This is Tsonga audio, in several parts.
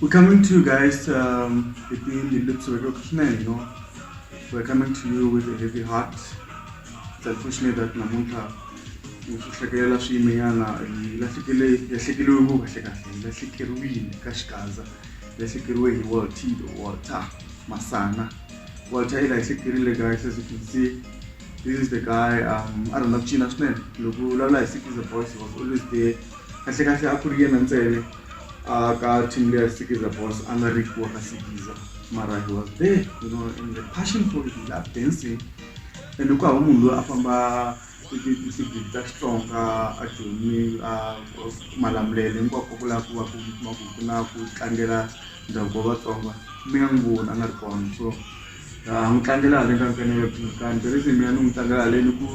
We're coming to you guys, um, we're coming to you with a heavy heart. It's unfortunate that Namunta ngihlekelela swiyimenyana lahlekele lahlekeliwe ngo kahle kahle lahlekeriwile ka xikaza lahlekeriwe hi walter walter masana walter i lahlekerile guys as you can see this is the guy um a rhandza ku cina swinene loko u vulavula hi sikiza boys was always there kahle kahle a ku ri yena ntsele uh, ka team leya sikiza boss a nga ri wa ka sikiza mara he was there you know and the passion for it love dancing and ku hava munhu loyi a famba tisigidi ta xitsonga a jomi a malamulele hinkwako ku lava ku va kuma ku ku na ku tlangela ndhavuko wa vatsonga mi nga n'wi voni a nga ri kona so a n'wi tlangela haleni ka nkanelekani the reason mina ni n'wi tlangela haleni ku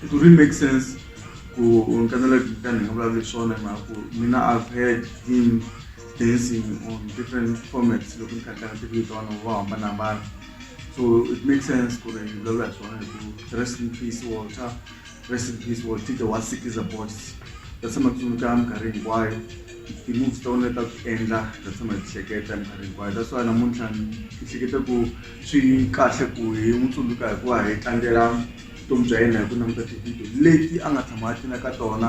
it really make sense ku ni nga vulavula hi swona hi mhaka ku mina I've heard him dancing on different formats loko ni kha ni tlanga tifilimi ta vanhu vo hambanahambana so it make sense ku ri ni vulavula hi swona hi ku rest in peace Walter rest in peace Walter the one sick is a boss ta tshama ni tsundzuka minkarhi hinkwayo ti-moves ta wena ta ku endla ta tshama hi ti hleketa minkarhi hinkwayo that's why namuntlha ni hleketa ku swi kahle ku hi n'wi tsundzuka hikuva hi tlangela vutomi bya yena hi ku languta tivhidiyo leti a nga tshama a tlula ka tona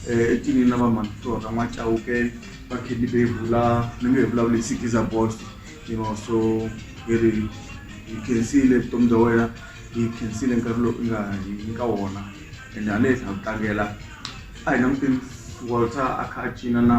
um etlinini na vamanitorha n'wa chauke va candy bevula ni nge hi vulavula hi sikiza bost you know so hi ri hi khensile vutomi bya wena hi khensile nkarhi lowu i nga hi nyika wona and haleswi ha ku tlangela a hi languteni walter a kha a cina na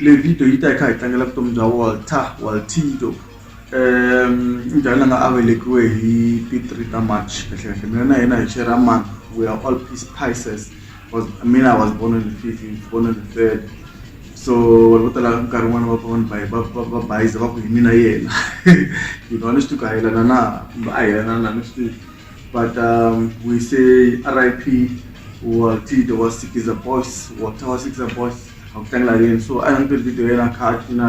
le video yi ta yi kha hi tlangela vutomi bya walter waltido um njhani la nga a velekiwe hi ti three ta march kahlekahle mina na yena hi xera ma we are all peace prices was I mean I was born on the 15th born on the 3rd so vanhu vo tala nkarhi wun'wana va pfa vanhu va bayiza va ku hi mina yena you know a ni swi tiku a yelana na kumbe a yelana na ni swi tivi but um, we say rip waltide wa sikiza boys walter wa sikiza boys a ku tlangela yena so a ni twe video yena kha a cina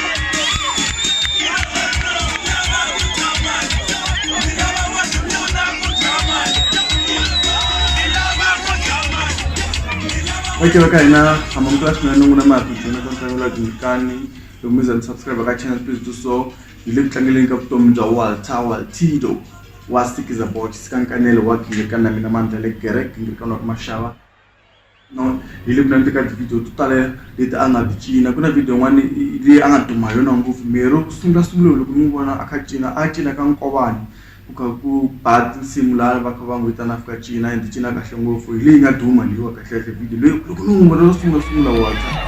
okay va ka hina hamba mi kula swinene n'wina ma happy journey ka ntlangu la dyindzikani loko mi za ni subscribe ka channel please do so hi le ku tlangeleni ka vutomi bya walter waltido wa sikiza box sikankanelo wa gingirikani na mina mandla le gerek gingirikani wa ka maxava no hi le mina ni teka ti-video to tala leti a nga ti cina ku na video yin'wana leyi a nga duma hi yona ngopfu miri ku sungula sungula loko mi vona a kha cina a cina ka nkovani ku kha ku ba tinsimu laha va kha va n'wi vitana fika cina and cina kahle ngopfu hi leyi nga duma leyiwa kahlekahle video leyi loko ni n'wi vona no sungula sungula wata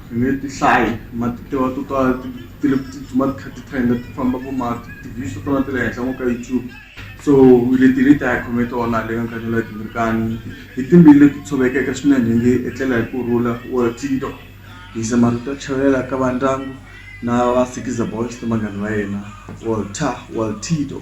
Ni nge ti hlayi mara ti tiviwa to tala ti ti le ku tsutsuma ti kha ti trend-a ti famba vo ma ti-views to tala ti le henhla ngopfu ka YouTube so leti leti a hi khome tona le ka nkarhi lowu timbirikani hi timbili leti tshovekeke swinene hi nge etlela hi ku rhula or tiyindlu hi yisa marito ya chavelela ka va ndyangu na va sikhiza boys na vanghana va yena walter walter.